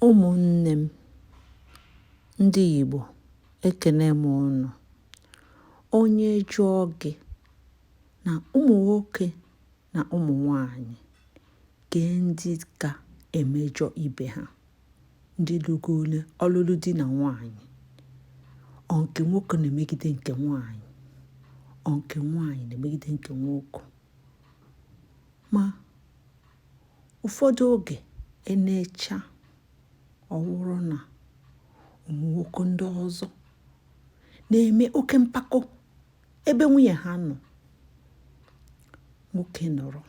Ụmụnne m ndị Igbo, ekene m ụnụ. Onye jụọ gị na ụmụ nwoke na ụmụ nwanyị kee ndị ka emejọ ibe ha, ndị lụgole ọlụlụ di na nwanyị, ọ nke nwoke na-emegide nke nwanyị, ọ nke nwanyị na-emegide nke nwoke. ma ụfọdụ oge e necha ọ wụrụ na ụmụ nwoke ndị ọzọ na-eme oke mpako ebe nwunye ha nọ nwoke nọrọ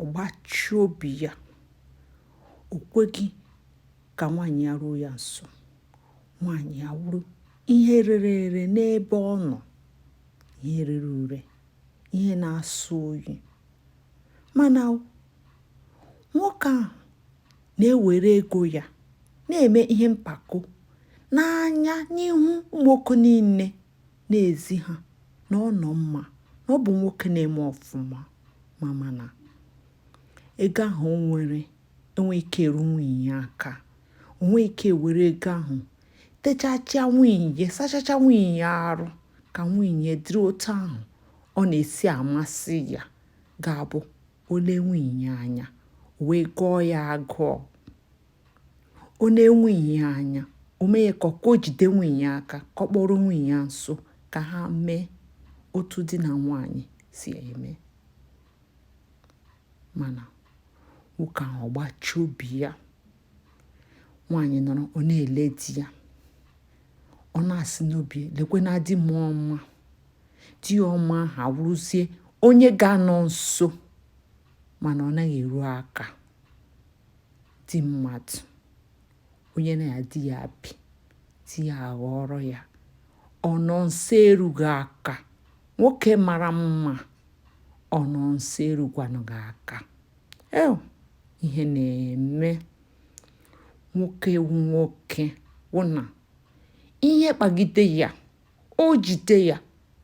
ọ gbachi obi ya o kweghị ka nwaanyị ya ruo ya nso nwaanyị ya wụrụ ihe rere ere n'ebe ọ nọ ihe rere ure ihe na-asọ oyi mana nwoke ahụ na-ewere ego ya na-eme ihe mpako n'anya n'ihu ụmụ nwoke niile na-ezi ha na ọ nọ mma na ọ bụ nwoke na-eme ọfụma ma mana ego ahụ o nwere enwe ike eru nwunye ya aka o nwe ike were ego ahụ techachaa nwunye sachacha nwunye arụ ka nwunye dịrị otu ahụ ọ na-esi amasị ya ga-abụ o lee nwunye ya anya o wee gụọ ya agụụ o nee nwunye ya anya o mee ya ka o jide nwunye ya aka ka ọ kpọrọ nwunye ya nso ka ha mee otu di na nwanyị si eme mana nwoke ahụ ọ gbachi obi ya nwaanyị nọrọ ọ na-ele di ya ọ na-asị n'obi lekwa na di m ọma di ya ọma ahụ awụrụzie onye ga-anọ nso mana ọ naghị eru aka di mmadụ onye na ya di ya bi di ya aghọrọ ya ọ nọ nso erughị aka nwoke mara mma ọ nọ nso erukwanụghị aka Ew, ihe na-eme nwoke wụ nwoke wụ na ihe kpagide ya o jide ya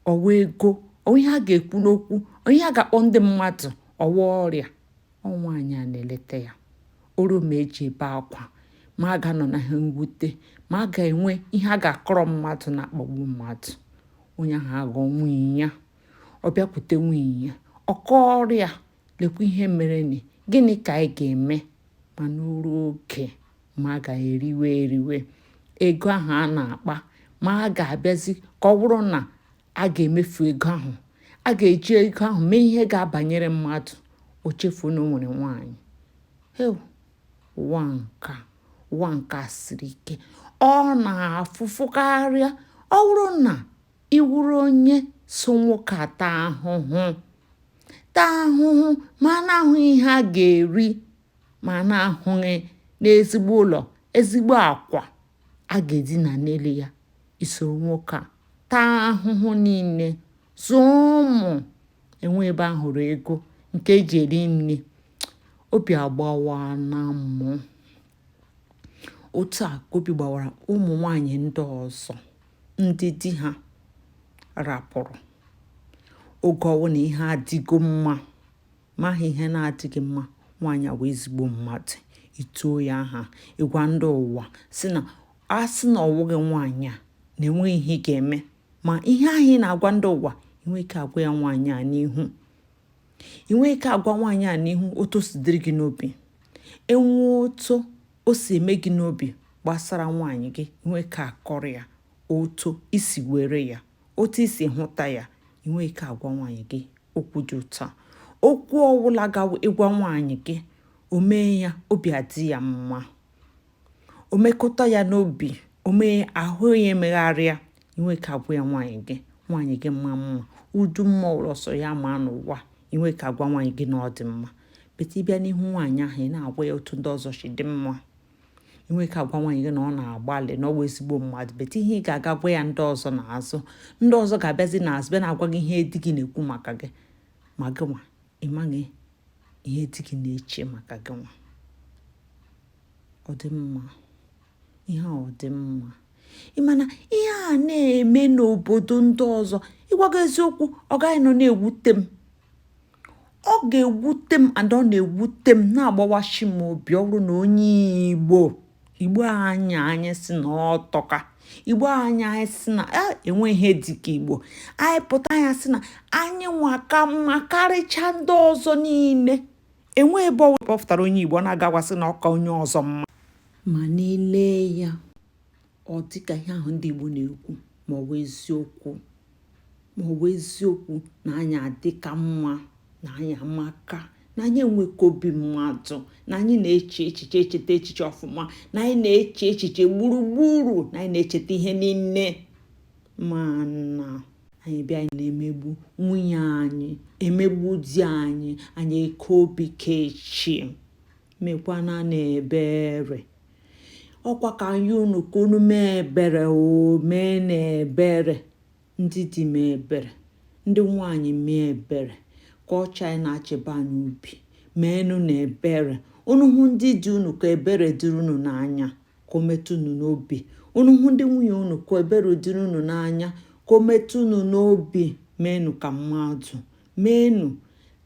ọ wa ego ihe a ga-ekwu n'okwu ihe a ga-akpọ ndị mmadụ ọ wa ọrịa ọ nwaanyị a na-eleta ya o ruo ma e ji ebe akwa ma a ga-anọ na ha mwute ma a ga-enwe ihe a ga-akọrọ mmadụ na-akpagbu mmadụ onye ahụ aghọ nwunye ya ọ bịakwute nwunye ya ọ kọọrọ ya lekwa ihe mere ni gịnị ka anyị ga-eme mana o ruo oge ma a ga-eriwe eriwe ego ahụ a na-akpa ma a ga-abịazi ka ọ bụrụ na a ga-emefu ego ahụ a ga-eji ego ahụ mee ihe ga-abanyere mmadụ o chefuo na o nwere nwaanyị ụwa nka ụwa nka siri ike ọ na-afụ ụfụ karịa ọ bụrụ na Ị wụrụ onye so nwoke a taa ahụhụ taa ahụhụ ma a na-ahụghị ihe a ga-eri ma a na-ahụghị n'ezigbo ụlọ ezigbo akwa a ga-edina n'elu ya i soro nwoke a taa ahụhụ niile zụọ ụmụ enwe ebe a hụrụ ego nke e ji eri nri obi agbawana mụ otu a ka obi gbawara ụmụ nwanyị ndị ọzọ ndị di ha rapụrụ oge ọ wụ na ihe adịgo mma ma ha ihe na-adịghị mma nwaanyị a wụ ezigbo mmadụ i tuo ya aha ị gwa ndị ụwa sị na a sị na ọ wụghị nwaanyị a na enweghị ihe ị ga-eme ma ihe ahụ ị na-agwa ndị ụwa i nwe ike agwa ya nwaanyị a n'ihu i nwe ike agwa nwaanyị a n'ihu otu o si dịrị gị n'obi enwe otu o si eme gị n'obi gbasara nwaanyị gị i nwe ike akọrọ ya otu i si were ya otu i si hụta ya i nwe ike agwa nwaanyị gị okwu dị ụtọ okwu ọ wụla ị ga-agwa nwaanyị gị o mee ya obi adị ya mma o mekọta ya n'obi o mee ahụ ya emegharịa i nwe ike agwa ya nwaanyị gị nwaanyị gị ma mma ọ dị mma ọ wụ sọ ya ma n'ụwa i nwe ike agwa nwaanyị gị na ọ dị mma but ị bịa n'ihu nwaanyị ahụ ị na-agwa ya otu ndị ọzọ si dị mma i nwe ike agwa nwaanyị gị na ọ na-agbalị na ọ bụ ezigbo mmadụ but ihe ị ga-aga gwa ya ndị ọzọ n'azụ ndị ọzọ ga-abịazi n'azụ bịa na-agwa gị ihe di gị na-ekwu maka gị ma gị nwa ị maghị ihe di gị na-eche maka gị nwa ọ dị mma ihe a ọ dị mma ị ma na ihe a na-eme n'obodo ndị ọzọ ịgwa gị eziokwu ọ gaghị nọ na-ewute m ọ ga-ewute m and ọ na-ewute m na-agbawashị m obi ọ bụrụ na onye igbo igbo anyị a anyị sị na ọ tọka igbo anyị a anyị sị na ah, enwe ihe dịka igbo anyị pụta anyị asị na anyị nwa ka mma karịcha ndị ọzọ niile Enwe ebe ọ kpọpụtara onye Igbo ọ na-aga agwa sị na ọ ka onye ọzọ mma mana i lee ya ọ dịka ihe ahụ ndị Igbo na-ekwu ma ọ bụ eziokwu ma ọ bụ eziokwu na anyị adịka mma na anyị amaka na anyị enweka obi mmadụ na anyị na-eche echiche echeta echiche ọfụma na anyị na-eche echiche gburugburu na anyị na-echeta ihe niile mana anyị bịa na-emegbu nwunye anyị emegbu di anyị anyị eke obi kechi mekwana na ebere ọkwa ka anyị unu ka unu mee ebere o mee na ebere ndị di mee ebere ndị nwanyị mee ebere ka ọcha anyị na-achịba anyị obi meenụ na ebere unu hụ ndị di unu ka ebere dịrị unu n'anya ka o metụ unu n'obi unu hụ ndị nwunye unu ka ebere dịrị unu n'anya ka o metụ unu n'obi meenụ ka mmadụ meenụ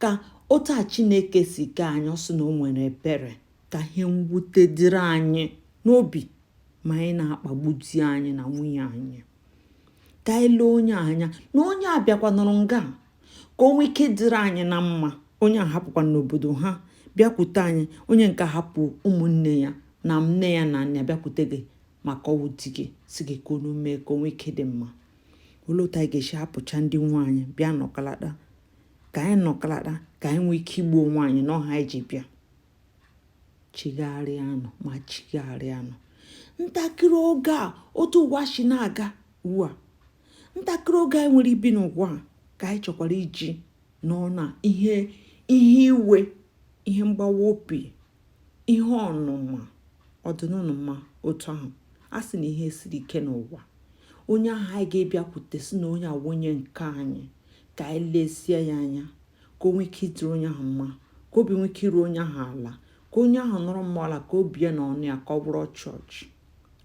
ka otu a chineke si kee anyị ọsọ na o nwere ebere ka ihe mwute dịrị anyị n'obi ma anyị na-akpagbu di anyị na nwunye anyị ka anyị lee onye anya na onye a bịakwa nọrọ nga ka o nwee ike dịrị anyị na mma onye a hapụkwanụ obodo ha bịakwute anyị onye nke hapụ ụmụnne ya na nne ya na nna bịakwute gị maka ọ wụ di gị sị gị ka unu mee ka o nwee ike dị mma olee otu anyị ga-esi hapụcha ndị nwe anyị bịa nọkalata ka anyị nọkalata ka anyị nwee ike igbu onwe anyị n'ọha anyị ji bịa chigharịanụ ma chigharịanụ ntakịrị oge a otu ụwa si na-aga ugbu a ntakịrị oge anyị nwere ibi n'ụwa a ka anyị chọkwara iji nọọ na ihe iwe ihe mgbawa obi ihe ọnụma ọ dịnụnụ mma otu ahụ a sị na ihe siri ike n'ụwa onye ahụ anyị ga-abịakwute sị na onye a wụ onye nke anyị ka anyị lezie ya anya ka o nwee ike ịdịrị onye ahụ mma ka obi nwee ike iru onye ahụ ala ka onye ahụ nọrọ mma ala ka obi ya na ọnụ ya ka ọ bụrụ chọọchị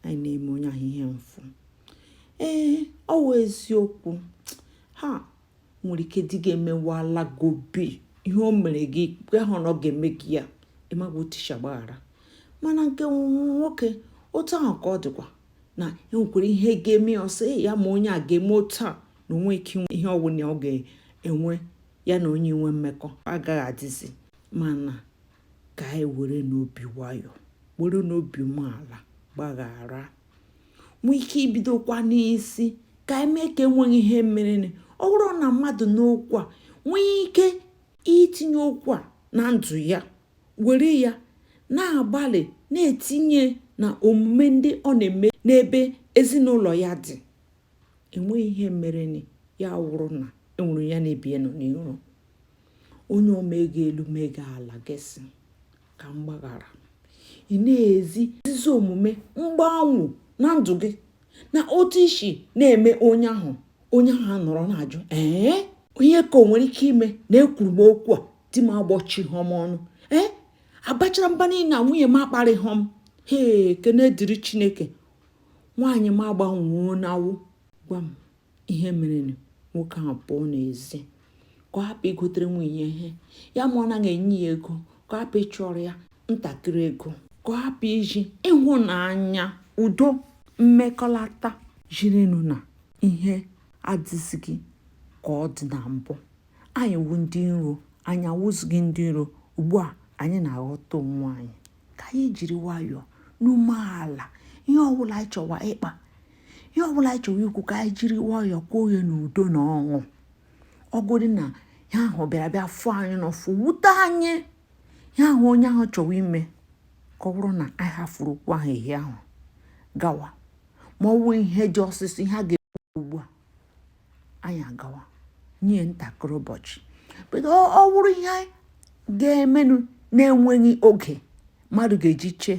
anyị na-eme onye ahụ ihe mfụ ee ọ wụ eziokwu ha nwere ike di gị emewala gị obi ihe o mere gị i kwehụ na ọ ga-eme gị ya ị maghị otu i si agbaghara mana nke nwoke otu ahụ ka ọ dịkwa na enwekwara ihe ga-eme ya ọ sị ya ma onye a ga-eme otu a na o nweghị ihe ọbụla ọ ga-enwe ya na onye inwe mmekọ agaghị adịzi mana ka anyị were nụ obi nwayọọ were nụ obi umeala gbaghara nwee ike ibidokwa n'isi ka anyị mee ka enweghị ihe mere ọ wụrụ na mmadụ nụ okwu a nwee ike itinye okwu a na ndụ ya were ya na-agbalị na-etinye na omume ndị ọ na-eme n'ebe ezinụlọ ya dị enweghị ihe mere ya wụrụ na e were ya na-ebie nọ n'iru onye omega elu mega ala gị sị ka m gbaghara ị na-ezi ezi omume mgbanwe na ndụ gị na otu i si na-eme onye ahụ onye ahụ anọrọ na-ajụ ee ihe ka o nwere ike ime na ekwuru m okwu a di m agbọchighọ m ọnụ ee abachara mba niile na nwunye m akparịghọ m hee ekene dịrị chineke nwaanyị m agbanwuo n'awụ gwa m ihe mere nwoke ahụ pụọ n'ezi ka ọ hapụ igotere nwunye ihe ya ma ọ naghị enye ya ego ka ọ hapụ ịchọrọ ya ntakịrị ego ka ọ hapụ izi ịhụnanya udo mmekọlata zirinụ na ihe adịzighị ka ọ dị na mbụ anyị wụ ndị iro anyị awụzighị ndị iro ugbu a anyị na-aghọta onwe anyị ka anyị jiri nwayọọ n'umeala ihe ọbụla anyị chọwa ịkpa ihe ọbụla anyị chọwa ikwu ka anyị jiri nwayọọ kwuo ya n'udo na ọṅụ ọ wụdị na ihe ahụ bịara bịa fụ anyị n'ụfụ wute anyị ihe ahụ onye ahụ chọwa ime ka ọ bụrụ na anyị hafụrụ okwu ahụ ehi ahụ gawa ma ọ bụ ihe dị ọsịsọ ihe a ga-ekwu ugbu a anyị agawa nye ntakịrị ụbọchị bedo ọ wụrụ ihe ga-emenụ na-enweghị oge mmadụ ga-eji chee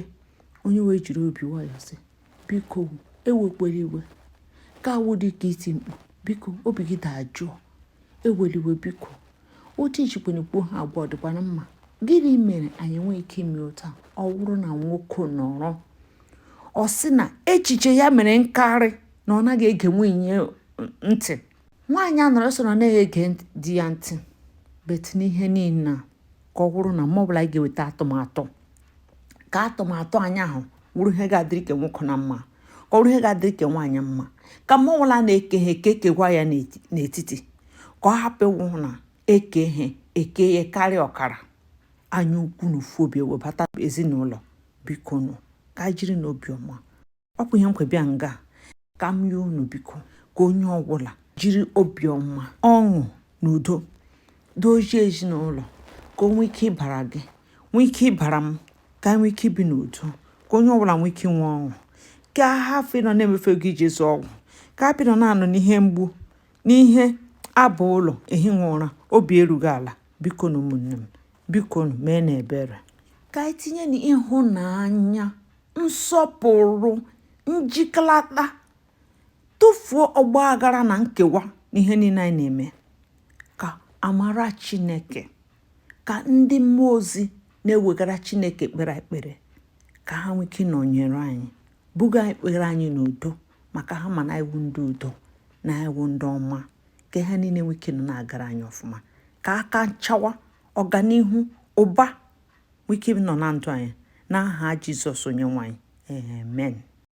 onye wee jiri obi nwayọọ sị biko ewekwala iwe ka awụ dị ka iti mkpu biko obi gị dajụọ ewela iwe biko otu i jikwanụ kwuo ha agwa ọ dịkwana mma gịnị mere anyị enweghị ike ime otu a ọ wụrụ na nwoke nọrọ ọ sị na echiche ya mere nkarị na ọ naghị ege nwunye ntị nwaanyị anọrọ sị na ọ naghị ege di ya ntị bet n'ihe niile ka ọ wụrụ na mma ọbụla anyị ga-eweta atụmatụ ka atụmatụ anyị ahụ wụrụ ihe ga-adịrị ke nwoke na mma ka ọ wụrụ ihe ga-adịrị ke nwaanyị mma ka mma ọbụla a na-eke ihe eke kekwaa ya n'etiti ka ọ hapụ ịwụ na e kee ihe e kee ya karịa ọkara anya ukwu na ụfụ obi ewebata ezinụlọ biko nụ ka e jirinụ obiọma ọ bụ ihe m kwo bịa nga ka m yịọ unu biko ka onye ọbụla jiri obiọma ọṅụ na udo dozie ezinụlọ ka o nwee ike ịbara gị nwee ike ịbara m ka e nwee ike ibi n'udo ka onye ọbụla nwee ike inwe ọṅụ ka a hafụ ịnọ na-emefu ego iji zụọ ọgwụ ka a hapụ ịnọ na-anọ n'ihe mgbu n'ihe abụ ụlọ ehighị ụra obi erughị ala bikonụ ụmụnne m biko meenụ ebere ka anyị tinyenụ ịhụnanya nsọpụrụ njikọlata tụfuo ọgba aghara na nkewa n'ihe niile anyị na-eme ka amara chineke ka ndị mmụọ ozi na-ewegara chineke ekpere e kpere ka ha nwee ike ịnọnyere anyị buga ekpere anyị n'udo maka ha ma na anyị wụ ndị udo na anyị wụ ndị ọma ka ihe niile nwee ike nọ na-agara anyị ọfụma ka aka nchawa ọganihu ụba nwee ike nọ na ndụ anyị n'aha Jizọs Onyenwe anyị amen